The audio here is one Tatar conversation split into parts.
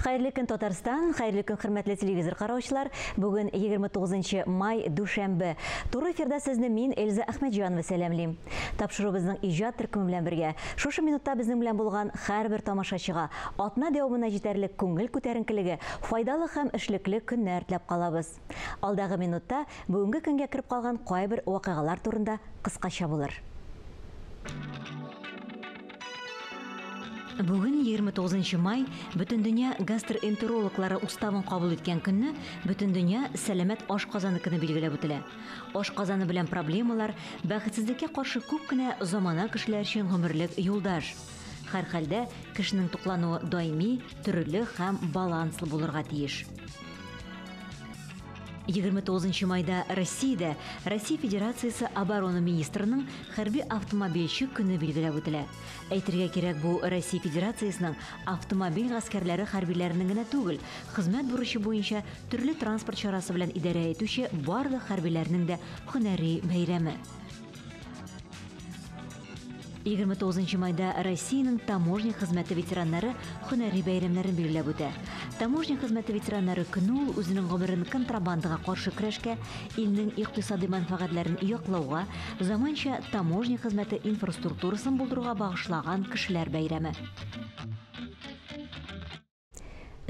Хәерле көн, Татарстан! Хәерле көн, хөрмәтле телевизор караучылар! Бүген 29 май, дүшәмбе. Туры эфирда сезне мин, Эльза Әхмәтҗанова сәламлим. Тапшыруыбызның иҗат төркеме белән бергә, шушы минутта безнең белән булган һәрбер тамашачыга атна дәвамына җитәрлек күңел күтәренкелеге, файдалы һәм эшлекле көннәр теләп калабыз. Алдагы минутта бүгенге көнгә кереп калган кайбер вакыйгалар турында кыскача булыр. Бүген 29 май Бөтендөнья гастроэнтерологлары уставын кабул иткән көнне Бөтендөнья сәламәт ашказаны көне билгеләп үтелә. Ашказаны белән проблемалар, бәхетсезлеккә каршы күп кенә замана кешеләр өчен гомерлек юлдаш. Һәрхәлдә, кешенең туклануы даими, төрле һәм баланслы булырга тиеш. 29 нчы майда Россиядә Россия Федерациясе оборона министрының хәрби автомобильче көне билгеләп үтелә. Әйтергә кирәк, бу Россия Федерациясенең автомобиль гаскәрләре хәрбиләренең генә түгел, хезмәт бурычы буенча төрле транспорт чарасы белән идарә итүче барлык хәрбиләрнең дә һөнәри бәйрәме. Егерме тугызынчы майда Россиянең таможня хезмәте ветераннары һөнәри бәйрәмнәрен билгеләп үтә. Таможня хезмәте ветераннары көне ул үзенең гомерен контрабандага каршы көрәшкә, илнең икътисади мәнфәгатьләрен яклауга, заманча таможня хезмәте инфраструктурасын булдыруга багышлаган кешеләр бәйрәме.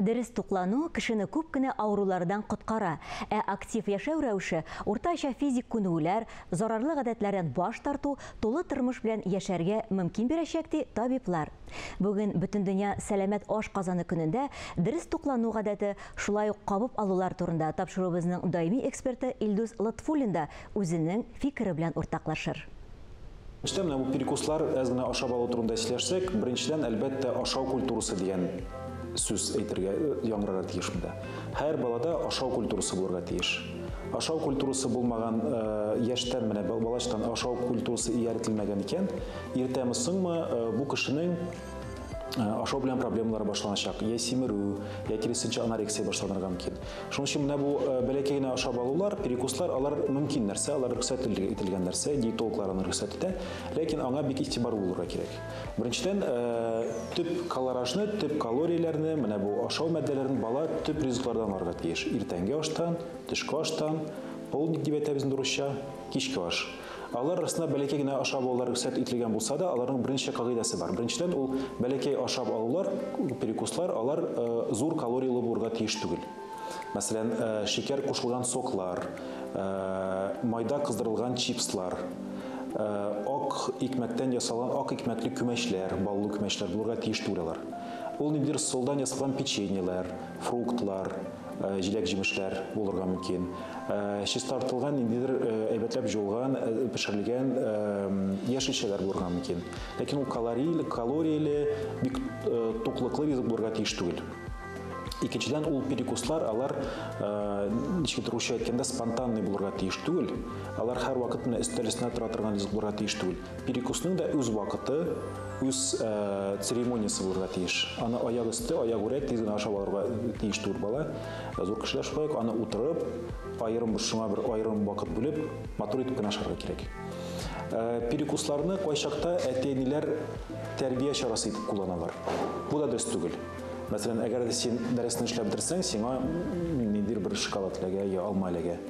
Дөрес туклану кешене күп кенә авырулардан коткара, ә актив яшәү рәвеше, уртача физик күнегүләр, зарарлы гадәтләрдән баш тарту тулы тормыш белән яшәргә мөмкин бирәчәк, ди табиблар. Бүген Бөтендөнья сәламәт ашказаны көнендә дөрес туклану гадәте, шулай ук кабып алулар турында тапшыруыбызның даими эксперты Илдус Лотфуллин да үзенең фикере белән уртаклашыр. Төштә менә бу перекуслар әз генә ашап алу турында сөйләшсәк, беренчедән, әлбәттә, ашау культурасы дигән сүз әйтергә э, яңгырарга тиеш монда. Һәр балада ашау культурасы булырга тиеш. Ашау культурасы булмаган э, яшьтән менә балачтан ашау культурасы ияртелмәгән икән, иртәме соңмы э, бу кешенең Э, ашау белән проблемалар башланачак я симерү я киресенчә анорексия башланырга мөмкин шуның өчен менә бу э, бәләкәй генә ашап алулар перекуслар алар мөмкин нәрсә алар рөхсәт ителгән нәрсә диетологлар аны рөхсәт итә ләкин аңа бик игътибарлы булырга кирәк беренчедән э, төп калоражны төп калорияләрне менә бу ашау маддәләрен бала төп ризыклардан алырга тиеш иртәнге аштан төшке аштан полдник дип әйтәбез инде урысча кичке аш Алар арасында бәләкәй генә ашап алулар рөхсәт ителгән булса да, аларның берничә кагыйдәсе бар. Беренчедән, ул бәләкәй ашап алулар, перекуслар, алар э, зур калорияле булырга тиеш түгел. Мәсәлән, э, шикәр кушылган соклар, э, майда кыздырылган чипслар, э, ак икмәктән ясалган ак икмәкле күмәчләр, баллы күмәчләр булырга тиеш түгел алар. Ул ниндидер солдан ясалган печеньеләр, фруктлар, Э, җиләк җимешләр булырга мөмкин э, чистартылган ниндидер э, әйбәтләп җуылган пешерелгән яшелчәләр булырга мөмкин ләкин ул калорияле калорияле бик туклыклы ризык булырга тиеш түгел икенчедән ул перекуслар алар ничек русча әйткәндә спонтанный булырга тиеш түгел алар һәрвакыт менә өстәл өстенә тора торган ризык булырга тиеш түгел Перекусның да үз вакыты, үз э, церемониясе булырга тиеш. Аны аяк өсте, аяк үрә тиз генә ашап алырга тиеш түгел бала. Э, зур кешеләр шулай ук аны утырып, аерым бер шуңа бер аерым вакыт бүлеп, матур итеп кенә ашарга кирәк. Э, перекусларны кайчакта әти-әниләр тәрбия чарасы итеп кулланалар. Бу да дөрес түгел. Мәсәлән, әгәр син дәресне эшләп бетерсәң, сиңа ниндидер бер шоколад эләгә я алма эләгә.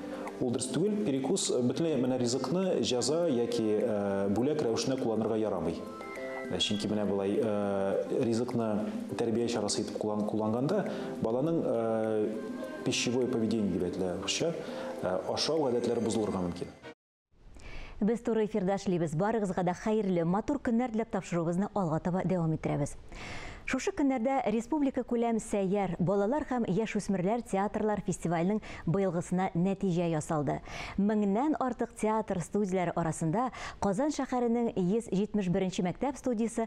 Ул дөрес түгел, перекус э, бөтенләй менә ризыкны җәза яки э, бүләк рәвешенә кулланырга ярамый. Э, чөнки менә болай ризыкны тәрбия чарасы итеп кулланганда баланың пищевое поведение дип әйтелә русча, ашау гадәтләре бозылырга мөмкин. Без туры эфирда эшлибез. Барыгызга да хәерле, матур көннәр теләп тапшыруыбызны алга таба дәвам иттерәбез. Шушы көннәрдә республика күләм сәйяр балалар һәм яшүсмерләр театрлар фестиваленең быелгысына нәтиҗә ясалды. Меңнән артык театр студияләре арасында Казан шәһәренең 171 нче мәктәп студиясе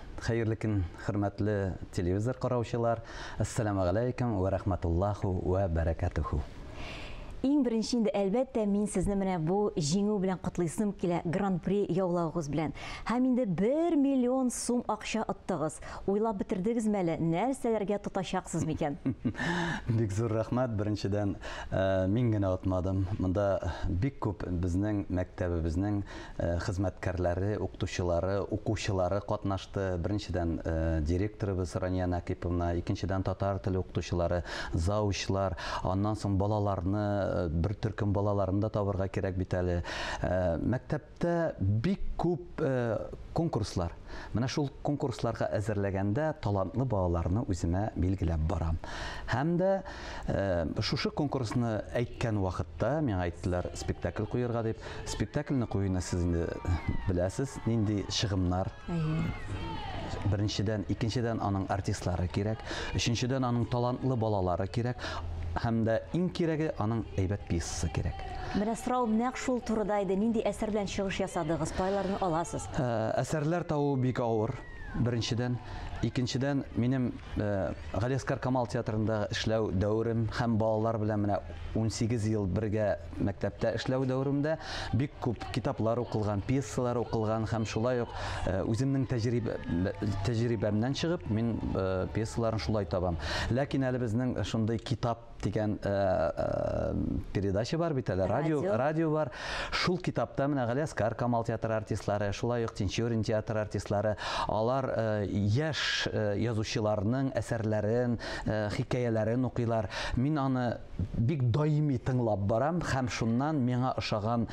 Хәерле көн, хөрмәтле телевизор караучылар! Әссәламү галәйкүм вә рахматуллаху вә бәрәкәтүһү! Иң беренче инде, әлбәттә, мин сезне менә бу җиңү белән котлыйсым килә, гран-при яулавыгыз белән. Һәм инде бер миллион сум акча оттыгыз. Уйлап бетердегезме әле, нәрсәләргә тотачаксыз микән? Бик зур рәхмәт, беренчедән, э, мин генә отмадым. Монда бик күп безнең мәктәбебезнең хезмәткәрләре, укытучылары, укучылары катнашты. Беренчедән, директорыбыз Рания Накиповна, икенчедән, татар теле укытучылары, заучлар, аннан соң балаларны, бер төркем балаларны да табырга кирәк бит әле. Мәктәптә бик күп конкурслар, Менә шул конкурсларга әзерләгәндә талантлы балаларны үземә билгеләп барам. Һәм дә шушы конкурсны әйткән вакытта миңа әйттеләр спектакль куерга дип. Спектакльне куюны сез инде беләсез, нинди чыгымнар. Беренчедән, икенчедән аның артистлары кирәк, өченчедән аның талантлы балалары кирәк һәм дә иң кирәге аның әйбәт пьесасы кирәк. Менә сорау нәкъ шул турыда иде. Нинди әсәр белән чыгыш ясадыгыз? Кайларны аласыз? Ә, әсәрләр табу бик авыр, беренчедән. Икенчедән, минем ә, Галиәскар Камал театрында эшләү дәверем һәм балалар белән менә 18 ел бергә мәктәптә эшләү дәверемдә бик күп китаплар укылган, пьесалар укылган һәм шулай ук ә, үземнең тәҗрибә, тәҗрибәмнән чыгып, мин ә, пьесаларны шулай табам. Ләкин әле безнең шундый китап дигән э, э, передача бар бит әле радио радио бар шул китапта менә галиаскар камал театры артистлары шулай ук тинчурин театры артистлары алар э, яшь язучыларның әсәрләрен хикәяләрен укыйлар мин аны бик даими тыңлап барам һәм шуннан миңа ошаган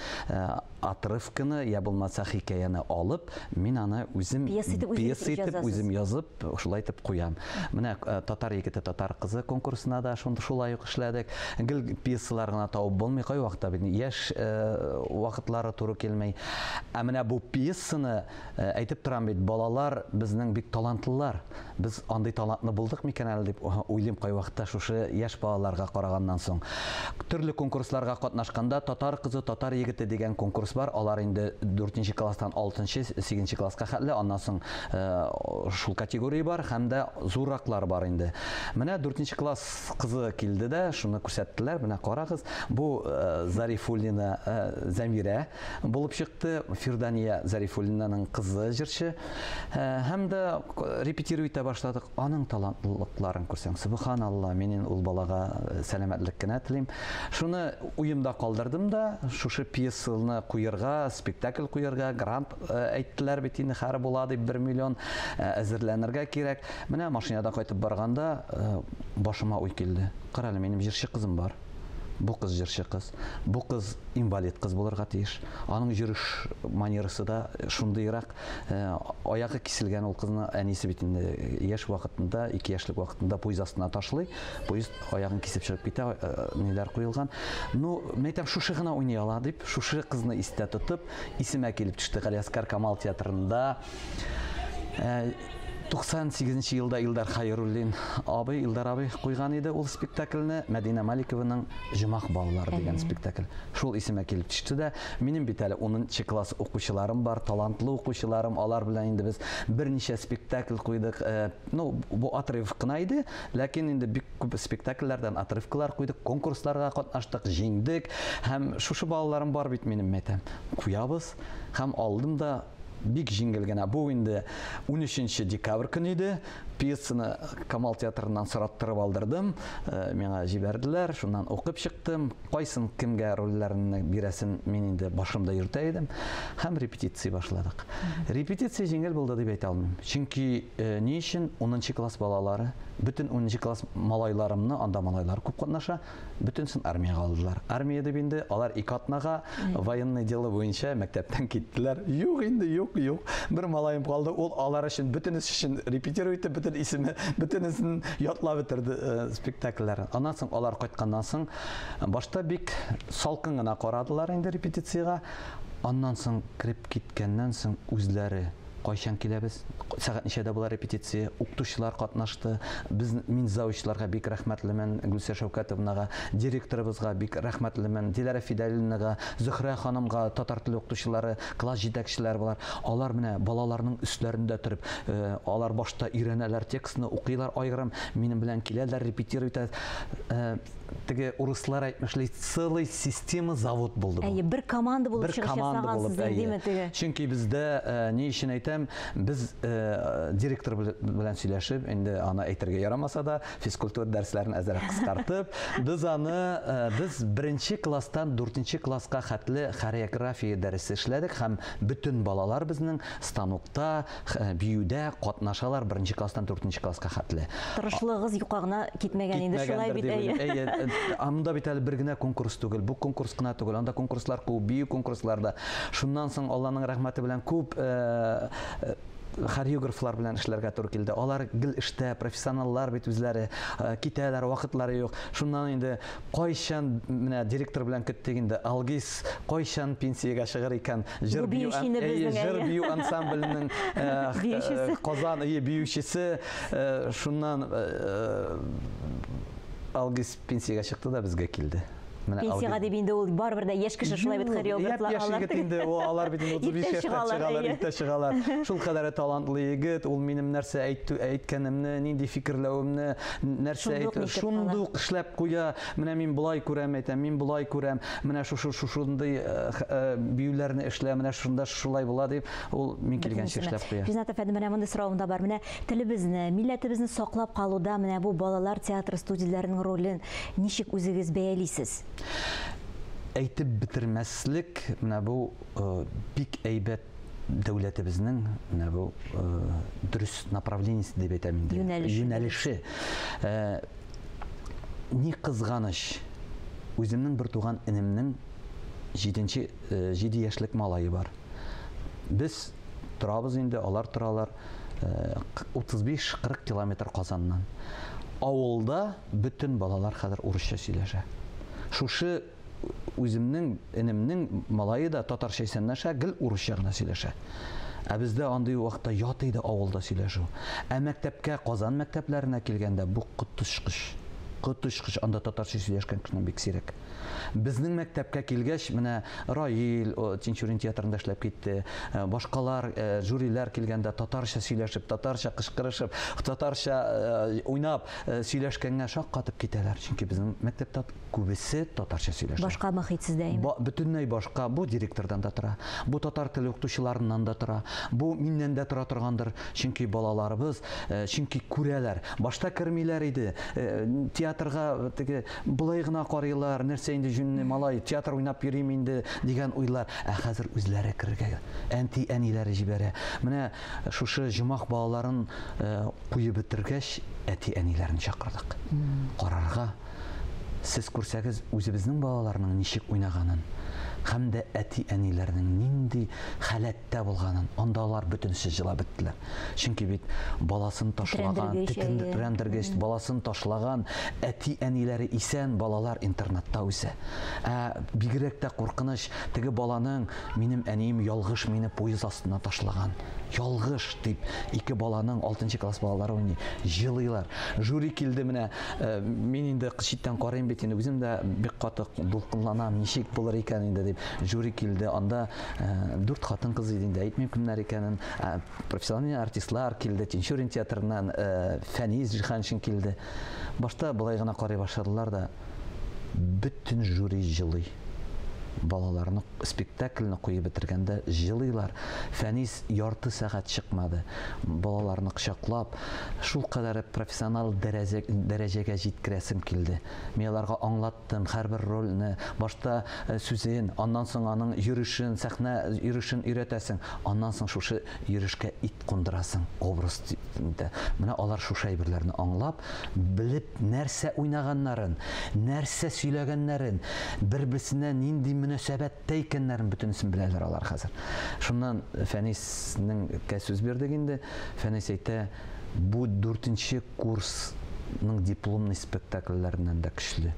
отрывканы я булмаса хикәяне алып мин аны үзем пьеса итеп үзем язып Шулай итеп куям. Менә татар егете, татар кызы конкурсына да шулай ук эшләдек. Гел пьесалар гына табып булмый, кайвакыта бит яшь вакытлары туры килми. Ә менә бу пьесаны әйтеп торам бит, балалар безнең бик талантлылар. Без андый талантлы булдык микән әле дип уйлыйм кайвакыта шушы яшь балаларга караганнан соң. Төрле конкурсларга катнашканда татар кызы, татар егете дигән конкурс бар. Алар инде дүртенче класстан алтынчы, сигезенче класска хәтле, аннан соң Шул категория бар һәм дә зурраклар бар инде. Менә 4 нче класс кызы килде дә, шуны күрсәттеләр. Менә карагыз, бу Зарифуллина Зәмирә булып чыкты. Фирдания Зарифуллинаның кызы җырчы. Һәм дә репетирую итә башладык. Аның талантлылыкларын күрсәң, субханалла, минем ул балага сәламәтлек кенә телим. Шуны уемда калдырдым да, шушы пьесаны куерга, спектакль куерга, грант э, әйттеләр бит инде хәр була дип бер миллион э, әзерләнергә кирәк менә машинада кайтып барганда э, башыма уй килде кара әле минем җырчы кызым бар бу кыз җырчы кыз бу кыз инвалид кыз булырга тиеш аның йөреш манерасы да шундыйрак э, аягы киселгән ул кызны әнисе бит инде яшь вакытында ике яшьлек вакытында поезд астына ташлый поезд аягын кисеп чыгып китә э, ниләр куелган ну мәйтәм шушы гына уйный ала дип шушы кызны истә тотып Исемә килеп төште Галиәскар Камал театрында. 98 э, нче елда Илдар Хайруллин абый, Илдар абый куйган иде ул спектакльне, Мәдинә Маликованың Җомах балалары дигән спектакль. Шул исемә килеп төште дә, минем бит әле 10 класс укучыларым бар, талантлы укучыларым, алар белән инде без берничә спектакль куйдык. Э, ну, бу отрыв кына иде, ләкин инде бик Күп спектакльләрдән отрывкалар куйдык, конкурсларда катнаштык, җиңдек. Һәм шушы балаларым бар бит минем, мәйтәм. Куябыз. Һәм алдым да бик җиңел генә. Бу инде 13 декабрь көне иде. Пьесаны Камал театрыннан сораттырып алдырдым. Э, миңа җибәрделәр, шуннан укып чыктым. Кайсын кемгә рольләрне бирәсен мин инде башымда йөртә идем һәм репетиция башладык. Репетиция җиңел булды дип әйтә алмыйм. Чөнки э, ни өчен 10 класс балалары, бөтен 10 класс малайларымны, анда малайлар күп катнаша, бөтенсен армиягә алдылар. Армия дип инде алар ике атнага военный дело буенча мәктәптән киттеләр. Юк инде, юк, юк. Бер малаем калды, ул алар өчен бөтенесе өчен репетировать итеп, бөтен исеме, бөтенесен Ятлап бетерде э, спектакльләрен. Аннан соң алар кайтканнан соң башта бик салкын гына карадылар инде репетициягә. Аннан соң кереп киткәннән соң үзләре кайчан киләбез, сәгать ничәдә була репетиция, укытучылар катнашты. Без мин заучыларга бик рәхмәтлемен, Гөлсә Шәүкәтовнага, директорыбызга бик рәхмәтлемен, Диләрә Фидалинага, Зөхрә ханымга, татар теле укытучылары Класс җитәкчеләре болар. Алар менә балаларның өсләрендә торып, э, алар башта өйрәнәләр текстны, укыйлар айгырым, минем белән киләләр, репетировать итә. Э, теге урыслар әйтмешли, целый система завод булды. Әйе, бер команда булып чыгыш ясагансыз диме теге? Чөнки бездә э, ни өчен әйтәм, без э, директор белән сөйләшеп, инде аны әйтергә ярамаса да, Физкультура дәресләрен әзрәк кыскартып, без аны э, без беренче класстан дүртенче класска хәтле хореография дәресе эшләдек һәм бөтен балалар безнең станокта, э, биюдә катнашалар беренче класстан дүртенче класска хәтле. Тырышлыгыгыз юкка гына китмәгән инде, шулай бит, әйе. Әйе, э, анда бит әле бер генә конкурс түгел, бу конкурс кына түгел, анда конкурслар күп, бию конкурсларда. Шуннан соң Алланың рәхмәте белән күп хореографлар белән эшләргә туры килде. Алар гел эштә, профессионаллар бит үзләре, э, китәләр, вакытлары юк. Шуннан инде кайчан менә директор белән көттек инде. Алгиз кайчан пенсиягә чыгыр икән? Җыр бию, әйе, җыр бию ансамбленең э, Казан ие биючесе. Э, шуннан Алгиз Пенсиягә чыкты да безгә килде. Менә Пенсиягә дип инде ул барыбер дә яшь кеше шулай бит хореографлар алар. Яшь егет инде ул алар бит 35 яшьтә чыгалар, иртә чыгалар. Шул кадәр талантлы егет, ул минем нәрсә әйткәнемне, нинди фикерләвемне, нәрсә әйтү, шундук эшләп куя. Менә мин болай күрәм, әйтәм, мин болай күрәм. Менә шушы шушындый биюләрне эшлә, менә шунда шулай була дип, ул мин килгәнче эшләп куя. Ринат әфәнде, менә мондый соравым да бар. Менә Телебезне, милләтебезне саклап калуда менә бу балалар театры студияләренең ролен ничек үзегез бәялисез? Әйтеп бетермәслек, менә бу бик әйбәт дәүләтебезнең менә бу дөрес направлениесе дип әйтәм инде. Юнәлеше. Юнәлеше. Ни кызганыч, үземнең бер туган энемнең җиденче җиде яшьлек малае бар. Без торабыз инде, алар торалар. 35-40 э, километр Казаннан. Авылда бөтен балалар хәзер урысча сөйләшә. Шушы үземнең энемнең малайы да татарча исәнләшә, гел урысча гына сөйләшә. Ә бездә андый вакытта ят иде авылда сөйләшү. Ә мәктәпкә, Казан мәктәпләренә килгәндә бу коточкыч. Коточкыч анда татарча сөйләшкән кешенең бик сирәк. Безнең мәктәпкә килгәч, менә Раил Тинчурин театрында эшләп китте. Э, башкалар, э, жюрилар килгәндә татарча сөйләшеп, татарча кычкырышып, татарча э, уйнап сөйләшкәнгә шаккатып китәләр. Чөнки безнең мәктәптә күбесе татарча сөйләшә. Башка мөхит сездә инде. Ба, бөтенләй башка. Бу директордан да тора. Бу татар теле укытучыларыннан да тора. Бу миннән дә тора торгандыр. Чөнки балаларыбыз, чөнки күрәләр. Башта кермиләр иде. Театрга теге Болай гына карыйлар, нәрсә инде җүнле малай, театр уйнап йөриме инде, дигән уйлар. Ә хәзер үзләре керергә әнти-әниләре җибәрә. Менә шушы җумах балаларын куеп бетергәч, әти-әниләрне чакырдык. Карарга, сез күрсәгез, үзебезнең балаларның ничек уйнаганын һәм дә әти-әниләрнең нинди халәттә булганын, анда алар бөтенесе җылап беттеләр. Чөнки бит баласын ташлаган, тетрәндергеч, баласын ташлаган әти-әниләре исән, балалар интернатта үсә. Ә бигрәк тә куркыныч, теге баланың минем әнием ялгыш мине поезд астына ташлаган. Ялгыш дип ике баланың 6 класс балалары уйный, җылыйлар. Жюри килде менә, э, мин инде читтән карыйм бит, инде үзем дә бик каты дулкынланам, ничек булыр икән инде дип. Жюри килде, анда э, дүрт хатын-кыз иде инде, әйтмим кемнәр икәнен. Профессиональ артистлар килде, Тинчурин театрыннан э, Фәниз Җиһаншин килде. Башта былай гына карый башладылар да, бөтен жюри җылый. Балаларны спектакльне куеп бетергәндә җылыйлар. Фәнис ярты сәгать чыкмады. Балаларны кочаклап, шул кадәр профессиональ дәрәҗә, дәрәҗәгә җиткерәсем килде. Мин аларга аңлат Тын, һәрбер рольне, башта сүзен, аннан соң аның йөрешен, сәхнә йөрешен өйрәтәсең, аннан соң шушы йөрешкә ит кундырасың, образ тип. Менә алар шушы әйберләрне аңлап, белеп, нәрсә уйнаганнарын, нәрсә сөйләгәннәрен, бер-берсенә нинди мөнәсәбәттә икәннәрен бөтенесен беләләр алар хәзер. Шуннан Фәниснеңкә сүз бирдек инде. Фәнис әйтә, Бу дүртенче курсның дипломный спектакльләреннән дә көчле.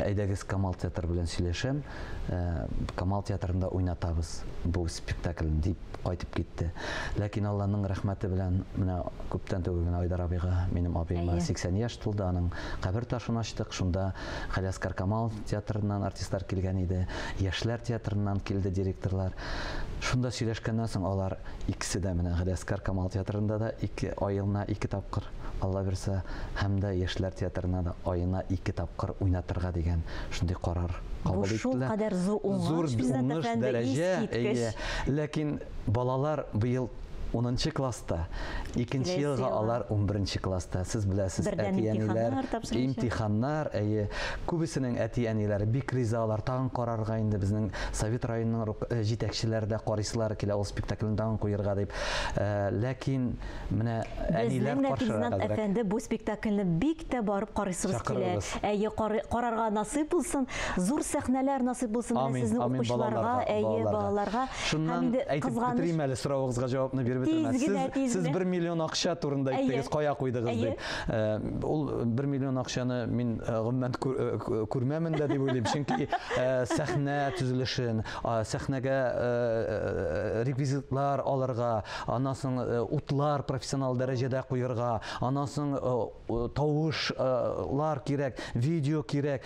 Әйдәгез Камал театры белән сөйләшәм, э, Камал театрында уйнатабыз бу спектакльне дип кайтып китте. Ләкин Алланың рәхмәте белән менә күптән түгел генә Айдар абыйга, минем абыема 80 яшь тулды, аның кабер ташын ачтык. Шунда Халяскар Камал театрыннан артистлар килгән иде, Яшьләр театрыннан килде директорлар. Шунда сөйләшкәннән соң алар Икесе дә менә Галиәскар Камал театрында да ике аена ике тапкыр, Алла бирса, һәм дә яшьләр театрына да аена ике тапкыр уйнатырга дигән шундый карар кабул иттеләр. Бу шулкадәр зур уңыш, Биззат әфәнде, искиткеч. Ләкин балалар быел унынчы класста, икенче елга алар унберенче класста. Сез беләсез, әти-әниләр, имтиханнар, әйе, Күбесенең әти-әниләре бик риза алар, тагын карарга инде, безнең Совет районының рок җитәкчеләре дә карыйсылары килә ул спектакльне тагын куерга дип. Ләкин менә әниләр каршырак әзрәк. Безнең дә Физнат әфәнде бу спектакльне бик тә барып карыйсыбыз килә. Әйе, карарга насыйп булсын, зур сәхнәләр насыйп булсын менә сезнең укучыларга, әйе, балаларга. Шуннан әйтеп бетерим әле, соравыгызга җавапны биреп бетермәс. Сез бер миллион акча турында әйттегез, кая куйдыгыз дип. Ул бер миллион акчаны мин гомумән күрмәмен дә дип уйлыйм, чөнки сәхнә төзелешен, сәхнәгә реквизитлар алырга, аннан соң утлар профессионал дәрәҗәдә куерга, аннан соң тавышлар кирәк, видео кирәк.